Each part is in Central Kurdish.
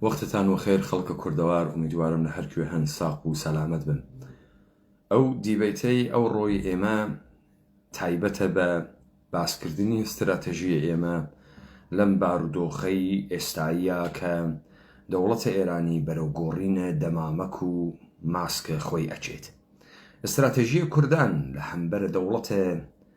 وەختتان وەخێر خەڵکە کوردەوار ئومیدوارم لە هەرکوێ هەن ساق و سەلامەت بن ئەو دیبەیتەی ئەوڕۆی ئێمە تایبەتە بە باسکردنی ستراتژیی ئێمە لەم بارودۆخەی ئێستاییا کە دەوڵەتە ئێرانی بەرەو گۆڕینە دەمامک و ماسک خۆی ئەچێت ستراتژیی کوردان لە هەمبەر دەوڵەتە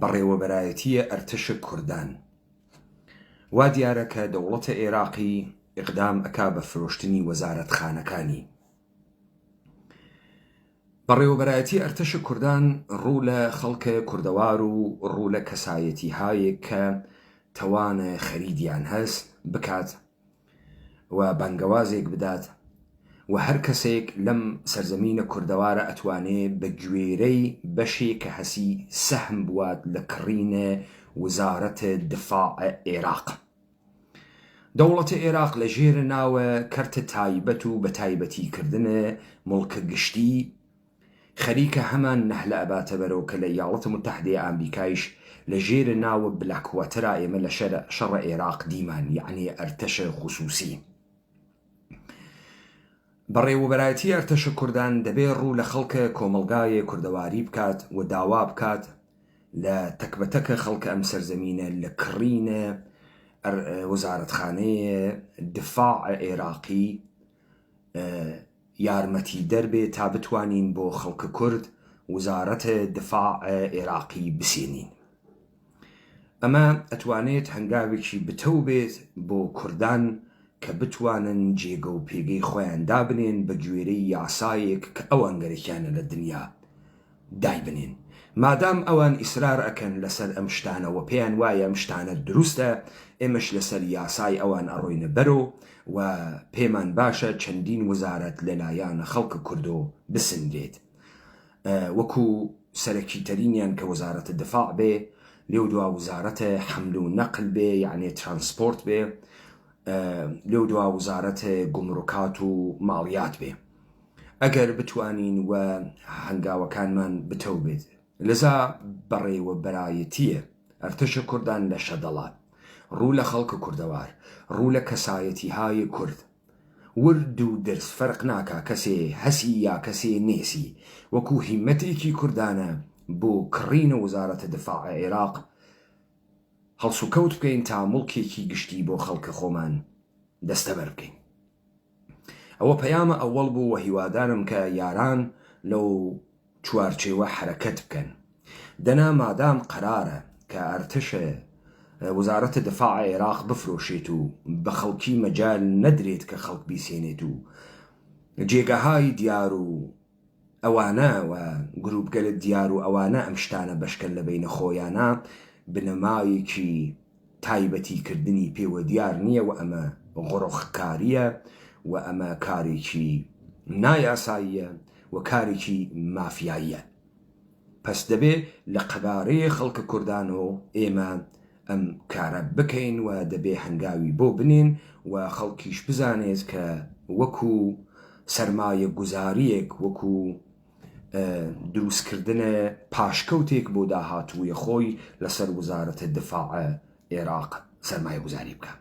بەڕێوەبەرایەتییە ئەرتەشە کوردان. وا دیارە کە دەوڵەتە ئێراقی ئیقدام ئەکا بە فرۆشتنی وەزارەتخانەکانی. بەڕێوەبەرایەتی ئەرتەشە کوردان ڕوو لە خەڵکە کوردەوار و ڕوو لە کەسایەتیهایێک کە تەوانە خەریدیان هەس بکات و بانگەوازێک بدات و هەر کەسێک لەم سەرزەمینە کوردەوارە ئەتوانێ بە گوێرەی بەشێ کە هەسی سەهم بوات لە کڕینێ وزارەت دفاع ئێراق. دەوڵەت ئێراق لە ژێرە ناوە کەرت تایبەت و بە تایبەتی کردنێ موڵکە گشتی، خەریکە هەمان نەهلە ئەباتە بەرەو کە لە ئیاڵەتە موتەحدەیە ئامریکایش لە ژێرە ناوە بلاک واتەرا ئێمە لە شەرە شەڕە ئێراق دیمان یەعنی ئەرتەشە خوسوسی بەڕێوەبەرایەتی ئەرتەشە کوردان دەبێ ڕوو لە خەڵکە کۆمەڵگایە کوردەواری بکات و داوا بکات لە تەک بە تەکە خەڵکە ئەم سەرزەمینە لە کڕینە وەزارەتخانەیە دفاع ئێراقی یارمەتی دەر بێ تا بتوانین بۆ خەڵک کورد وزارەت دفاع ئێراقی بسینین ئەمە ئەتوانێت هەنگاوێکی بتەو بێت بۆ کوردان کە بتوانن جێگە و پێگەی خۆیان دابنێن بە گوێرەی یاسایەک کە ئەوان گەرەکیانە لە دنیا دایبنێن مادام ئەوان ئیسرار ئەکەن لەسەر ئەم شتانە وە پێیان وایە ئەم شتانە دروستە ئێمەش لەسەر یاسای ئەوان ئەڕۆینە بەرۆ وە پێمان باشە چەندین وزارەت لەلایان خەڵک کوردۆ بسنرێت وەکو سەرەکی تەرینیان کە وزارەت دفاع بێ لێو دوا وزارەت حمل و نقل بێ یەعنی ترانسپۆرت بێ لێو دوا وزارەت گومرکات و ماڵیات بێ. ئەگەر بتوانین و هەنگاوەکانمان بتەو بێت لەزا بەڕێوە بەرایەتیە ئەرتەشە کوردان لە شەدەڵات ڕوو لە خەڵکە کوردەوار ڕوو لە کەسایەتی هایە کورد ورد و درز فەرق ناکا کەسێ هەسی یا کەسێ نێسی وەکو هیمەتێکی کوردانە بۆ کڕین وزارەتە دفاع عێراق هەڵسوکەوت بکەین تا موڵکێکی گشتی بۆ خەڵکە خۆمان دەستەبەر بکەین. ئەوە پەیامە ئەوەڵ بوو وە هیوادارم کە یاران لەو چوارچێوە حەرەکەت بکەن دەنا مادام قەرارە کە ئەرتەشە وزارەتە دفاع عێراق بفرۆشێت و بە خەڵکی مەجال نەدرێت کە خەڵک بیسێنێت و جێگەهای دیار و ئەوانە و گروپگەلە دیار و ئەوانە ئەم شتانە بەشکەن لە بەینە خۆیانا بنەمایەکی تایبەتی کردنی پێوە دیار نیە و ئەمە غڕخ کاریە و ئەمە کارێکی نا یاساییە و کارێکی مافیاییە پەس دەبێ لە قەبارەێ خەڵکە کوردانۆ ئێمە ئەم کارە بکەین و دەبێ هەنگاوی بۆ بنێین و خەڵکیش بزانێت کە وەکو سەرمایەگوزارییەک، وەکو دروستکردنە پاشکەوتێک بۆ داهاتووی خۆی لەسەر وزارەتە دفاع ئێراق سەرمایەگوزاری بکا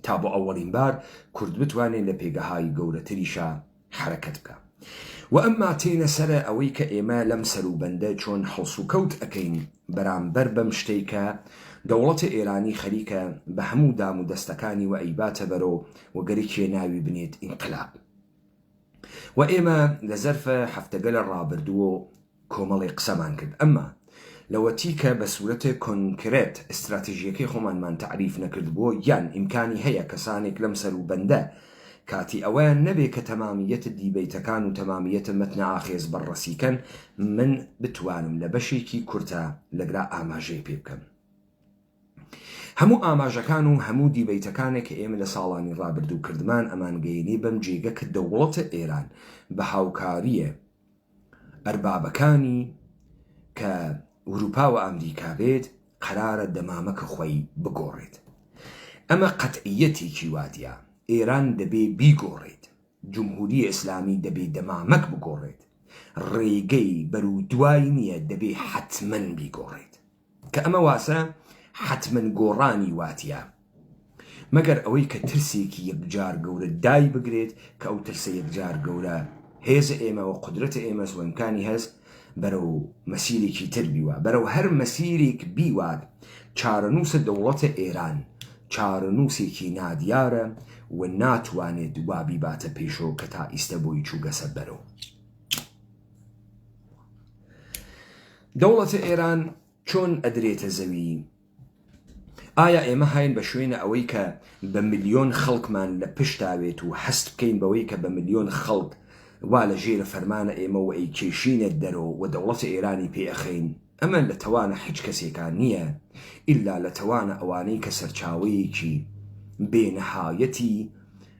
تا بۆ ئەوەڵین بار کورد بتوانێ لە پێگەهای گەورەتریشا حەرەکەت بکا وە ئەمما تێینە سەرە ئەوەی کە ئێمە لەم سەرو بەندە چۆن هەڵسو کەوت ئەکەین بەرام بەر بەم شتەی کە دەوڵەتە ئێرانی خەریکە بە هەموو دام و دەستەکانی وە ئەیباتە بەرۆ وە گەری کێ ناوی بنێت ئینقلاب وە ئێمە لە زەرفە هەفتەگەلە ڕابردوو کۆمەڵێ قسەمان کرد ئەمما لەوەتی کە بە سورەتێ کۆنکرێت ئیستراتیژیەکەی خۆمانمان تەعریف نەکردبووە یان ئیمکانی هەیە کەسانێک لەم سەرو بەندە کاتی ئەوەیان نەبێ کە تەمامیەت دیبەیتەکان و تەمامیەت مەتنە ئاخێز بەرڕەسی کەن من بتوانم لە بەشێکی کورتە لەگرا ئاماژەی پێ بکەم. هەموو ئاماژەکان و هەموو دیبەیتەکانێک کە ئێمە لە ساڵانی ڕابردوو کردمان ئەمان گەینی بەم جێگە کە دەوڵەتە ئێران بە هاوکاریێ ئەربابەکانی کە وروپا و ئامریکا بێت قەرارە دەمامەکە خۆی بگۆڕێت ئەمە قەتعیەتێکی وادیا ئێران دەبێ بیگۆڕێت جمهوری ئێسلامی دەبێ دەمامەک بگۆڕێت ڕێگەی بەرو دوای نیە دەبێ حەتمەن بیگۆڕێت کە ئەمە واسە حەتمەن گۆڕانی واتیە مەگەر ئەوەی کە ترسێکی یەکجار گەورە دای بگرێت کە ئەو ترسە یەکجار گەورە هێزە ئێمە و قودرەتە ئێمەس و ئیمکانی هەست بەرەو مەسیرێکی تر بیوە بەرەو هەر مەسیرێک بیوات چارەنووسە دەوڵەتە ئێران چارەنووسێکی نادیارە و ناتوانێت وا بیباتە پێشەوە کە تا ئیستە بۆی چووگەسە بەرەو دەوڵەتە ئێران چۆن ئەدرێتە زەوی؟ ئایا ئێمە هاین بە شوێنە ئەوەی کە بە ملیۆن خەڵکمان لە پشتاوێت و هەست بکەین بەوەی کە بە ملیۆن خەڵک وا لە ژێرە فەرمانە ئێمە و ئەیکێشینە دەرۆ و دەوڵەتە ئێرانی پێ ئەخەین؟ ئەمە لە تەوانە حیچ کەسێکا نیە ئیلا لە تەوانە ئەوانەی کە سەرچاوەیەکی بێ نەهایەتی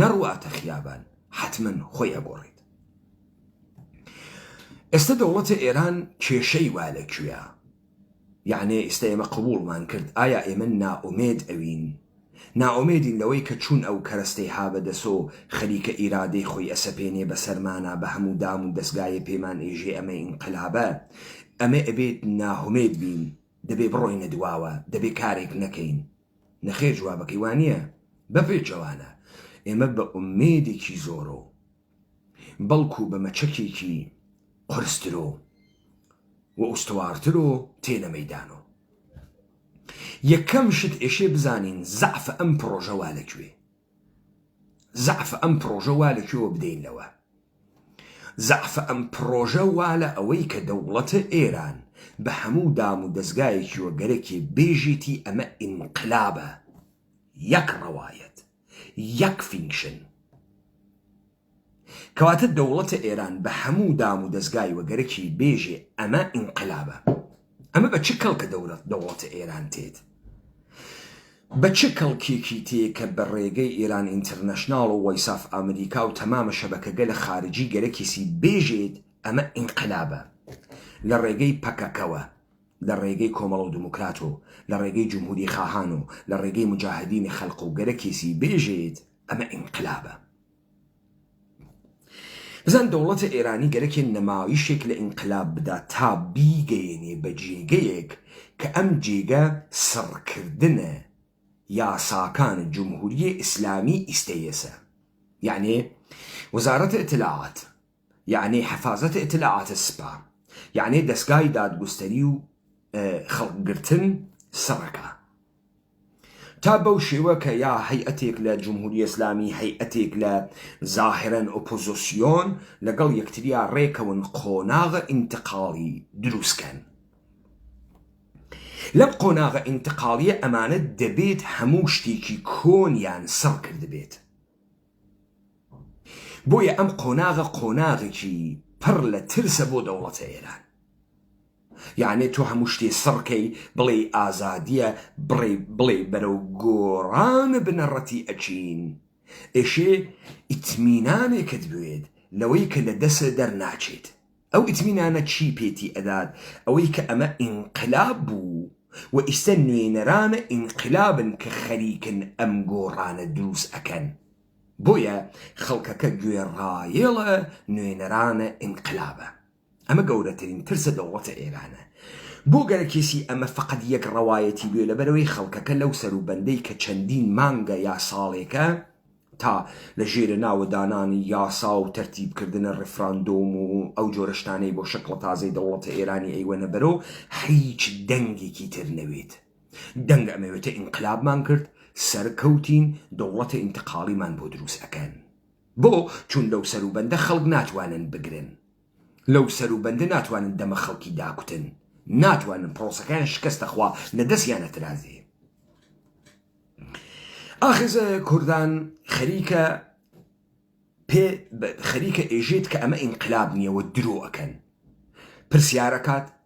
نەڕواتە خیابان حەتمەن خۆی ئەگۆڕیت ئێستە دەوڵەتە ئێران کێشەی وا لە کوێە یعنێ ئیستا ئێمە قبولمان کرد ئایا ئێمە نائومێد ئەوین ناومێدین لەوەی کە چوون ئەو کەرەستەی هابە دەسۆ خەریکە ئیرادەی خۆی ئەسەپێنێ بە سەرمانا بە هەموو دام و دەستگایە پێمان ئێژێ ئەمە ئینقلابە ئەمە ئەبێت ناهمێت بین دەبێ بڕۆینە دواوە دەبێ کارێک نەکەین نەخێر جوابەکەی وانیە بەپێچەوانە ئێمە بە ئومێدێکی زۆرۆ بەڵکو بە مەچەکێکی قورسترۆ و ئوستوارترۆ تێنە مەیدانۆ یەکەم شت ئێشێ بزانین زەعفە ئەم پڕۆژە وا لەکوێ زەعف ئەم پڕۆژە وا لە کوێوە بدەین لەوە زەعف ئەم پڕۆژە وا لە ئەوەی کە دەوڵەتە ئێران بە هەموو دام و دەزگایەکیوە گەرەکێ بێژێتی ئەمە ئینقلابە یەک ڕەوایەت یەک فینکشن. کەواتە دەوڵەتە ئێران بە هەموو دام و دەزگای وەگەرەکی بێژێ ئەمە ئینقلابە ئەمە بە چ کەڵکە دەورەت دەوڵەتە ئێران تێت بە چ کەڵکێکی تێ کە بە ڕێگەی ئێران ئینتەرنەشناڵ و وەیساف ئەمریکا و تەمامە شەبەکەگە لە خارجی گەرەکیسی بێژێت ئەمە ئینقلابە لە ڕێگەی پەکەکەوە لە ڕێگەی کۆمەڵ و دموکرات و لە ڕێگەی جمهوری خاهان و لە ڕێگەی مجاهدینی خەلق و گەرەکیسی بێژێت ئەمە ئینقلابە بزان دەوڵەتە ئێرانی گەرەکێ نمایشێک لە ئینقلاب بدا تا بیگەیەنێ بە جێگەیەک کە ئەم جێگە سڕکردنە یاساکان جمهوریە ئیسلامی ئیستەیەسە یەعنێ وزارەت ئیتلاعات یەعنی حەفازەت ئیتلاعات سپا یەعنی دەسگای دادگوستەری و خەڵک گرتن سڕەکا تا بەو شێوە کە یا هەیئەتێک لە جمهوری ئێسلامی هەیئەتێک لە زاهرەن ئۆپۆزۆسیۆن لەگەڵ یەکتریا ڕێکەون قۆناغە ئینتقاڵی دروستکەن لەم قۆناغە ئینتقاڵیە ئەمانە دەبێت هەموو شتێکی کۆنیان سڕ کردبێت بۆیە ئەم قۆناغە قۆناغێکی پڕ لە ترسە بۆ دەوڵەتە ئێران. یانێ تۆ هەموو شتێ سڕ کەی بڵێی ئازادیە بڕێ بڵێ بەرەو گۆڕان بنەڕەتی ئەچین ئێشێ ئیتمینانێکت بوێت لەوەی کە لە دەسە دەرناچێت. ئەو ئیتمینانە چی پێتی ئەدات ئەوەی کە ئەمە ئینقلاب بوو و ئیستە نوێنەرانە ئینقلابن کە خەریکن ئەم گۆڕانە دروست ئەکەن بۆیە خەڵکەکە گوێڕایەڵە نوێنەرانە ئینقلابە ئەمە گەورەترین ترسە دەوڵەتە ئێرانە بۆ گەرەکێسی ئەمە فقط یەک ڕەوایەتی بێ لەبەرەوەی خەڵکەکە لەو سەرو بەندەی کە چەندین مانگە یا ساڵێکە تا لە ژێرە ناوە دانانی یاسا و تەرتیب کردنە ڕیفراندۆم و ئەو جۆرە شتانەی بۆ شەکڵە تازەی دەوڵەتە ئێرانی ئەیوەنە بەرۆ هیچ دەنگێکی تر نەوێت دەنگ ئەمەوێتە ئینقلابمان کرد سەر کەوتین دەوڵەتە ئینتقاڵیمان بۆ دروست ئەکەن بۆ چون لەو سەروبەندە خەڵک ناتوانن بگرن. لەو سەرو بەندە ناتوانن دەمە خەڵکی داکوتن ناتوانن پرۆسەکەیان شکەستە خوا نە دەسیان ئەترازێ ئاخز کوردان خەریکە پێ خەریکە ئێژێت کە ئەمە ئینقلاب نییە و درۆ ئەکەن پرسیارەکات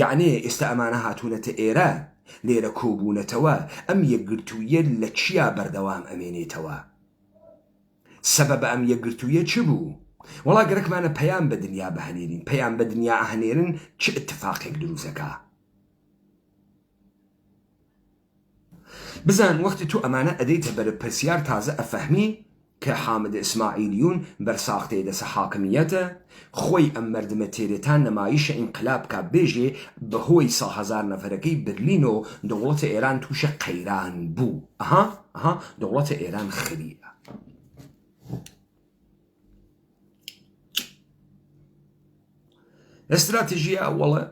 یەعنێ ئێستا ئەمانە هاتوونەتە ئێرە لێرە کۆبوونەتەوە ئەم یەکگرتوویە لە چیا بەردەوام ئەمێنێتەوە سەبەبە ئەم یەکگرتوویە چ بوو وەڵا گەرەکمانە پەیام بە دنیا بهنێرین پەیام بە دنیا ئەهنێرن چ ئتفاقێک درووست ئەکا. بزان وەختی تۆ ئەمانە ئەدەیتە بەرە پرسیار تازە ئەفەهمی کە حامد اسماعیلیون بەر ساختەیە دەسە حاکمیەتە خۆی ئەم مەردمە تێرێ تا نەمایشە ئینقلاب کا بێژێ بەهۆی سە هەزار نەفەرەکەی برلینۆ دەوڵەتە ئێران توشە قەیران بوو ئەها ئەها دەوڵەتە ئێران خریە. استراتیژی ئەوڵە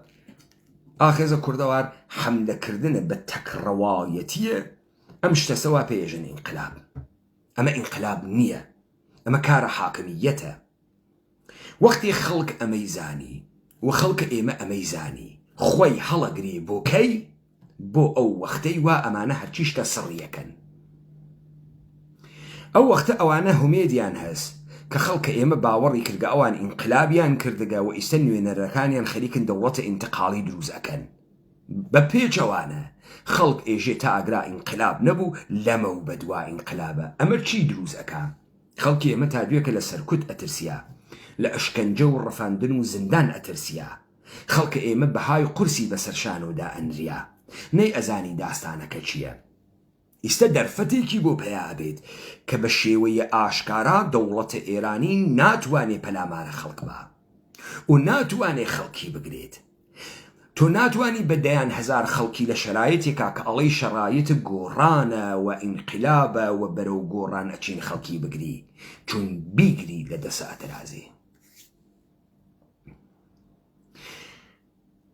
ئاخێزە کوردەوار حملەکردنە بە تەکڕەوایەتیە ئەم شتەسەوا پێژن ئینقلاب ئەمە ئینقلاب نییە ئەمە کارە حاکمیەتە وەختی خەڵک ئەمەی زانی و خەڵکە ئێمە ئەمەی زانی خۆی هەڵەگری بۆکەی بۆ ئەو وەختەی وا ئەمانە هەرچی شتە سڕیەکەن ئەو وەختە ئەوانە هومێدیان هەس کە خەڵکە ئێمە باوەڕی کردگە ئەوان ئینقلابیان کردگە و ئیستە نوێنەرەکانیان خەریکن دەوڵەتە ئینتقاڵی دروست ئەکەن بە پێچەوانە خەڵک ئێژێ تا ئاگرا ئینقلاب نەبوو لەمە و بەدوا ئینقلابە ئەمە چی دروست ئەکا خەڵکی ئێمە تا دوێکە لە سەرکوت ئەترسیا لە ئەشکەنجە و ڕفاندن و زندان ئەترسیا خەڵکە ئێمە بەهای قورسی بەسەر شانۆ دائەنریا نەی ئەزانی داستانەکە چیە ئیستە دەرفەتێکی بۆ پەیا ئەبێت کە بە شێوەیێ ئاشکارا دەوڵەتە ئێرانی ناتوانێ پەلامارە خەڵک با و ناتوانێ خەڵکی بگرێت تۆ ناتوانی بە دەیان هەزار خەڵکی لە شەرایتێکا کە ئەڵێی شەرایت گۆڕانە و ئینقلابە و بەرەو گۆڕان ئەچین خەڵکی بگری چون بیگری لە دەسە ئەترازێ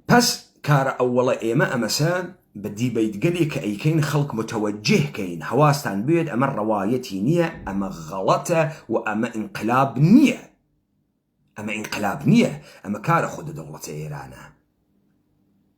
پەس کارە ئەوەڵە ئێمە ئەمەسە بە دیبەیتگەلێ کە ئەیکەین خەڵک متەوەجیه کەین هەواستان بوێت ئەمە ڕەوایەتی نییە ئەمە غەڵەتە و ئەمە ئینقلاب نییە ئەمە ئینقلاب نییە ئەمە کارە خودە دەوڵەتە ئێرانە.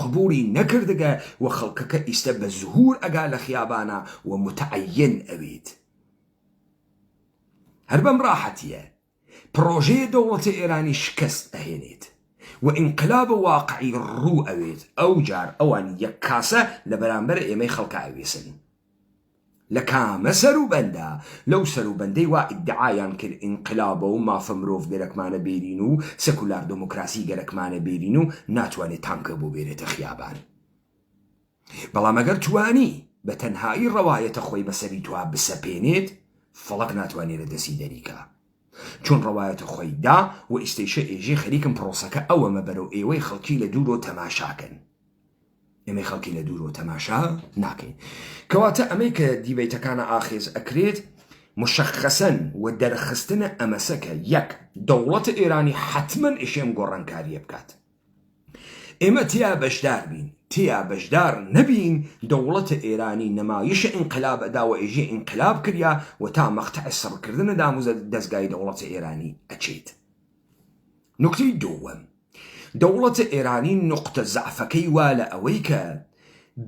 قبولی نەکردگە وە خەڵکەکە ئیستە بە زهور ئەگا لە خیابانا وە متعین ئەوید هەر بەم راحەتیە پرۆژەیە دەوڵەتە ئێرانی شکەست ئەهێنید وە ئینقلاب واقعی روو ئەوید ئەوجار ئەوان یەک کاسە لە بەرامبەر ئێمەی خەڵکا ئەویسن لە کامە سەروبەندە؟ لەو سەروبەندەی وا ئیدعایان کرد ئینقلابە و مافە مرۆڤ گەرەکمانە بێرین و سکولار دموکراسی گەرەکمانە بێرین و ناتوانێ تانکە بۆ بێرێتە خیابان. بەڵام ئەگەر توانی بە تەنهایی ڕەوایەتە خۆی بە سەری تۆا بسەپێنێت فەڵەک ناتوانێ لە دەستی دەری کا. چون ڕەوایەتە خۆی دا و ئیستەیشە ئێژێ خەریکم پڕۆسەکە ئەوەمە بەرەو ئێوەی خەڵکی لە دوورۆ تەماشا کەن. ئێمەی خەڵکی لە دوورۆ تەماشا ناکەین کەواتە ئەمەی کە دیبیتەکانە ئاخێز ئەکرێت مشخەسەن و دەرخستنە ئەمەسەکە یەک دەوڵەت ئێرانی حتممەن ئشێم گۆڕانکاریە بکات ئێمە تیا بەشدار بین تیا بەشدار نەبین دەوڵەتە ئێرانی نەمایشە ئینقلاب داوە ئێژێ ئینقلاب کریا و تا مەختع سڕکردنە داموزە دەستگای دەوڵەتە ئێرانی ئەچێت نکتی دووەم دەوڵەتە ئێرانی نوقتە زەعفەکەی وا لە ئەوەی کە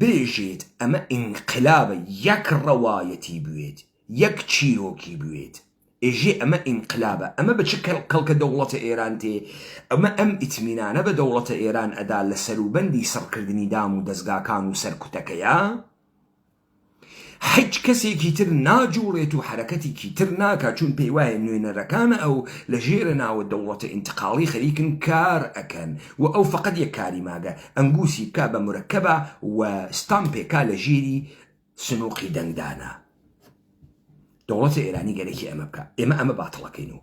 بێژێت ئەمە ئینقلابە یەک ڕەوایەتی بوێت یەک چیرۆکی بوێت ئێژێ ئەمە ئینقلابە ئەمە بە چ کەڵکە دەوڵەتە ئێران تێ ئەمە ئەم ئیتمینانە بە دەوڵەتە ئێران ئەدا لە سەروبەندی سڕکردنی دام و دەزگاکان و سەرکوتەکەیا هیچ کەسێکی تر ناجوڵێت و حەرەکەتێکی تر ناکات چون پێیوایە نوێنەرەکان ئەو لە ژێرە ناوە دەوڵەتە ئینتقاڵی خەریکن کار ئەکەن و ئەو فەقەت یەک کاری ماگە ئەنگوسی بکا بە مرەکەبا و ستامپێکا لە ژێری سنوقی دەنگدانا. دەوڵەتە ئێرانی گەرەکی ئەمە بکە ئێمە ئەمە باتڵەکەین و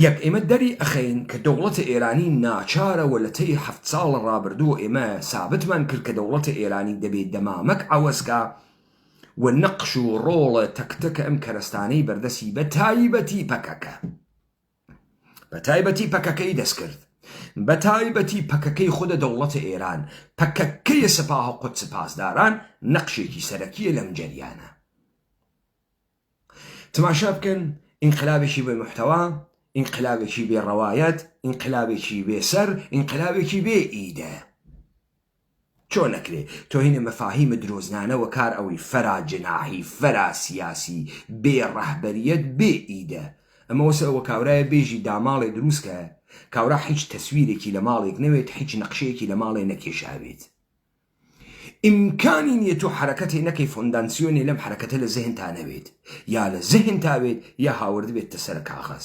یەک ئێمە دەری ئەخەین کە دەوڵەتە ئێرانی ناچارەوە لە تەی هەفت ساڵ ڕابردوو ئێمە سابتمان کرد کە دەوڵەتە ئێرانی دەبێت دەمامەک ئەوەسکە و نەقش و ڕۆڵە تەکتەکە ئەم کەرستانەی بەردەسی بە تایبەتی پەکەکە بەتایبەتی پەکەکەی دەستکرد بەتایبەتی پەکەکەی خودە دەوڵەتە ئێران پەکەکەیە سەپاهە قودس پاسداران نەقشێکی سەرەکیە لەم جەریانە تماشا بکەن ئینقلابێکی بێ محتەوا ئینقلابێکی بێ ڕەوایەت ئینقلابێکی بێسەر ئینقلابێکی بێ ئیدە چۆن ئەکرێ تۆهینە مەفاهیمە درۆزنانە وەکار ئەوەی فەرا جناحی فەرا سیاسی بێ ڕەهبەریەت بێ ئیدە ئەمە وەسە ئەوە کاورایە بێژی داماڵێ دروست کە کاورا حیچ تەسویرێکی لە ماڵێک نەوێت حیچ نەقشەیەکی لە ماڵێ نەکێشاوێت ئیمکانی نیە تۆ حەرەکەتێ نەکەی فۆندانسیۆنێ لەم حەرەکەتە لە زهنتا نەوێت یا لە زهنتا بێت یا هاوردبێتتە سەر کاغەز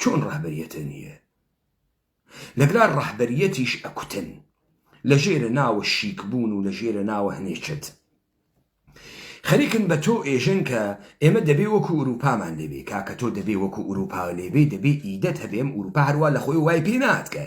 چۆن ڕەهبەریەتە نیە لەگلا ڕەهبەریەتیش ئەکوتن لە ژێرە ناوە شیک بوون و لە ژێرە ناوە هەنێ چەت خەریکن بە تۆ ئێژن کە ئێمە دەبێ وەکو ئوروپامان لێبێ کاکە تۆ دەبێ وەکو ئوروپا لێبێ دەبێ ئیدەت هەبێم ئوروپا هەروا لە خۆی وای پێ ناتکە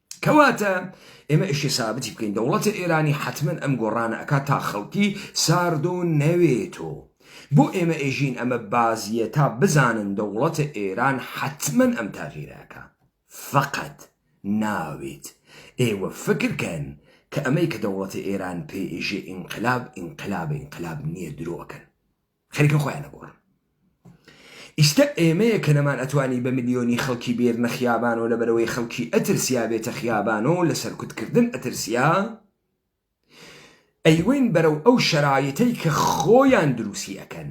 کەواتە ئێمە ئیشی سابتی بکەین دەوڵەتی ئێرانی حتممە ئەم گۆڕانە ئەکا تا خەڵکی ساردۆ نەوێتۆ بۆ ئێمە ئێژین ئەمە بازیە تا بزانن دەوڵەتە ئێران حتممە ئەم تاغیرەکە فقط ناوێت ئێوە فکرکەن کە ئەمەی کە دەوڵەتی ئێران پێ ئێژێ ئینقلاب ئینقلاب ئینقلاب نییە درۆکەن خەریکن خۆیان ئەگۆڕن ئیستە ئێمەیە کە نەمان ئەتوانی بە ملیۆنی خەڵکی بێرنە خیابان و لەبەرەوەی خەڵکی ئەترسیا بێتە خیابان و لە سەرکوتکردن ئەترسیا ئەیوەین بەرەو ئەو شەرایتەی کە خۆیان دروستی ئەکەن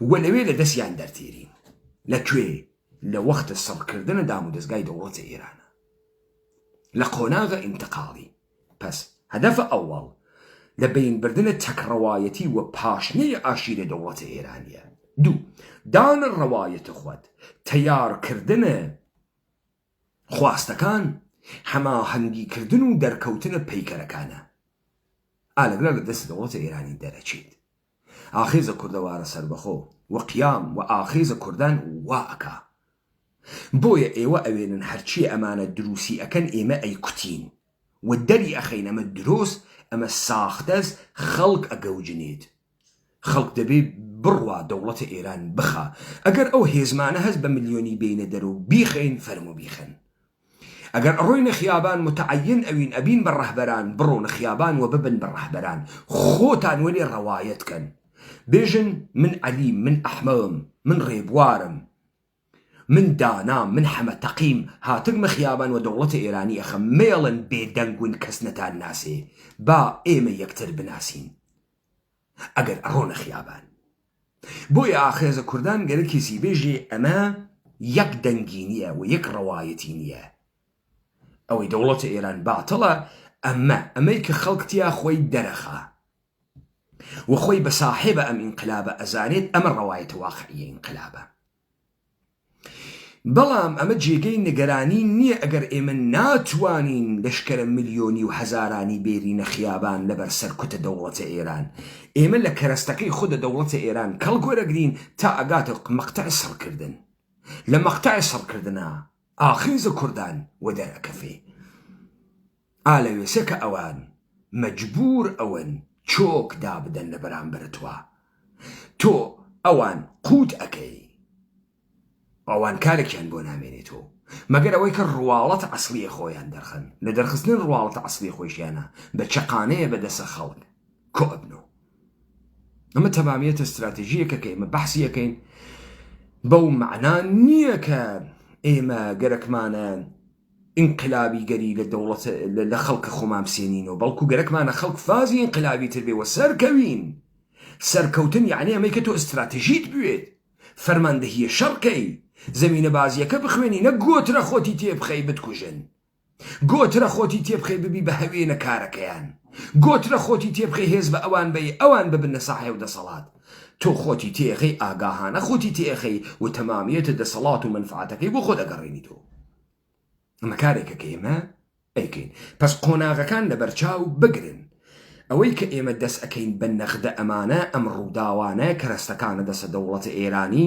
و لەوێ لە دەستیان دەرتێرین لە کوێ لە وەختە سەڕکردنە دام و دەستگای دەوڵەتە ئێرانە لە قۆناغە ئینتقاڵی پس هەدەف ئەوەڵ لە بەین بردنە تەک ڕەوایەتی وە پاشنەی عەشیرە دەوڵەتە ئێرانیە دوو دانە ڕەوایەتە خوەد تەیار کردنە خواستەکان هەماهەنگی کردن و دەرکەوتنە پەیکەرەکانە ئالەگرا لە دەست دەوڵەتە ئێرانی دەرەچیت. ئاخێزە کوردەوارە سەربەخۆ و قیام و ئاخێزە کوردان وا ئەکا بۆیە ئێوە ئەوێنن هەرچیە ئەمانە دروسی ئەکەن ئێمە ئەیکوتین و دەری ئەخەین ئەمە درۆس ئەمە ساختەس خەڵک ئەگەوجنێت خەڵک دەبێ بڕوا دەوڵەتە ئێران بخا ئەگەر ئەو هێزمانە هەس بە ملیۆنی بێینە دەرو بیخەین فەرمو بیخەن ئەگەر ئەڕۆینە خیابان متعین ئەوین ئەبین بە ڕەهبەران بڕۆنە خیابان وە ببن بە ڕەهبەران خۆتان وەلێ ڕەوایەت کەن بێژن من عەلیم من ئەحمەوم من ڕێبوارم من دانام من حەمە تەقیم هاتگمە خیابان وە دەوڵەتە ئێرانی ئەخەم مەیەڵن بێ دەنگون کەس نەتان ناسێ با ئێمە یەکتر بناسین. ئەگەر ئەڕۆنە خیابان. بۆیە ئاخێزە کوردان گەرە کێسی بێژێ ئەمە یەک دەنگی نیە و یەک ڕەوایەتی نیە. ئەوەی دەوڵەتە ئێران باتڵە ئەمە ئەمەی کە خەڵک تیا خۆی دەرەخا و خۆی بە ساحێبە ئەم ئینقلابە ئەزانێت ئەمە ڕەوایەتە واقعیە ئینقلابە. بەڵام ئەمە جێگەی نیگەرانی نییە ئەگەر ئێمە ناتوانین لەشکرە ملیۆنی و هەزارانی بێرینە خیابان لەبەر سەرکوتە دەوڵەتە ئێران ئێمە لە کەرەستەکەی خودە دەوڵەتە ئێران کەڵک وەرەگرین تا ئەگاتە مقتەع سڕکردن لە مقتەع سڕکردنە ئاخر ز کوردان وە دەر ئەکەفێ ئا لە وێسە کە ئەوان مەجبوور ئەوەن چۆک دابدەن لە بەرامبەر توا تۆ ئەوان قووت ئەکەی ئەوان کارێکیان بۆ نامێنێتۆ مەگەر ئەوەی کە ڕواڵەت عەسڵیە خۆیان دەرخەن لە دەرخستنی ڕواڵەتە عەسڵی خۆیشیانە بە چەقانەیە بە دەسە خەڵک کۆ ئەبنۆ ئەمە تەمامیەتە ستراتیژیەکە کە ئێمە بەحسی یەکەین بەو معنا نییە کە ئێمە گەرەکمانە ئینقلابی گەری لە دەوڵەت لە خەڵکە خۆمان بسێنینەوە بەڵکو گەرەکمانە خەڵک فازی ئینقلابی تر بێەوە سەرکەوین سەرکەوتن یعنی ئەمەی کە تۆ ئستراتژیت بوێت فەرماندەهیە شەڕکەی زمینە بازیەکە بخوێنی نە گۆترە خۆتی تێبخەی بتکوژن گۆ ترە خۆتی تێبخەی ببی بە هەوێ نە کارەکەیان گۆ ترە خۆتی تێبخەی هێز بە ئەوان بەی ئەوان ببنە ساحێو دەسەڵات تۆ خۆتی تێخەی ئاگاهانە خۆتی تێخەی و تەمامیەتە دەسەڵات و مەنفعەتەکەی بۆ خۆت ئەگەڕێنیتۆ ئەمە کارێکە کە ئێمە ئەیکەین پس قۆناغەکان لە بەرچاو بگرن ئەوەی کە ئێمە دەس ئەکەین بە نەخدە ئەمانە ئەم ڕووداوانە کەرەستەکانە دەسە دەوڵەتە ئێرانی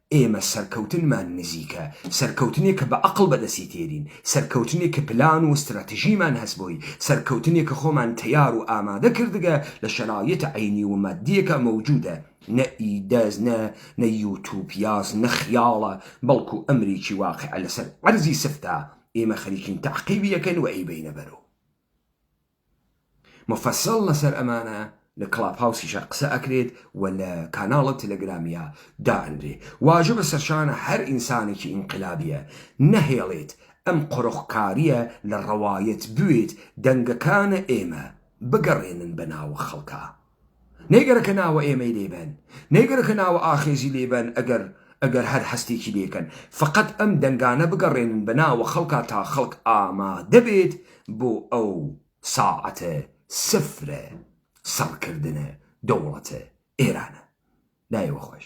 ئێمە سەرکەوتنمان نزیکە، سەرکەوتنێک کە بە ئەقڵ بەدەستی تێرین، سەرکەوتنێک کە پلان و ستراتژیمان هەس بۆی، سەرکەوتنێک کە خۆمان تەیار و ئامادە کردگە لە شەرایط عەینی و مادیە کە مەوجودە، نە ئیدەز نە نە یوتوپیاس نە خیاڵە، بەڵکو ئەمریکی واقیعە لەسەر عەرزی سفتە، ئێمە خەریکین تەعقیبی ئەکەن و ئەیبەینە بەرو. مفصل لەسەر ئەمانە لە کڵاب هاوسیشا قسە ئەکرێت و لە کاناڵە تلگرامیا دائەنرێ واجبە سەرشانە هەر ئینسانێکی ئینقلابیە نەهێڵێت ئەم قۆرخکاریە لە ڕەوایەت بوێت دەنگەکانە ئێمە بگەڕێنن بە ناوە خەڵکا. نەیگەرەکە ناوە ئێمەی لێ بەن نەیگەرەکە ناوە ئاخێزی لێ بەن ئەگەر ئەگەر هەر هەستێکی لێ کەن فەقەت ئەم دەنگانە بگەڕێنن بە ناوە خەڵکا تا خەڵک ئامادە بێت بۆ ئەو ساعەتە سفرە سڕکردنە دەوڵەتە ئێرانە. لایێ وە خۆش.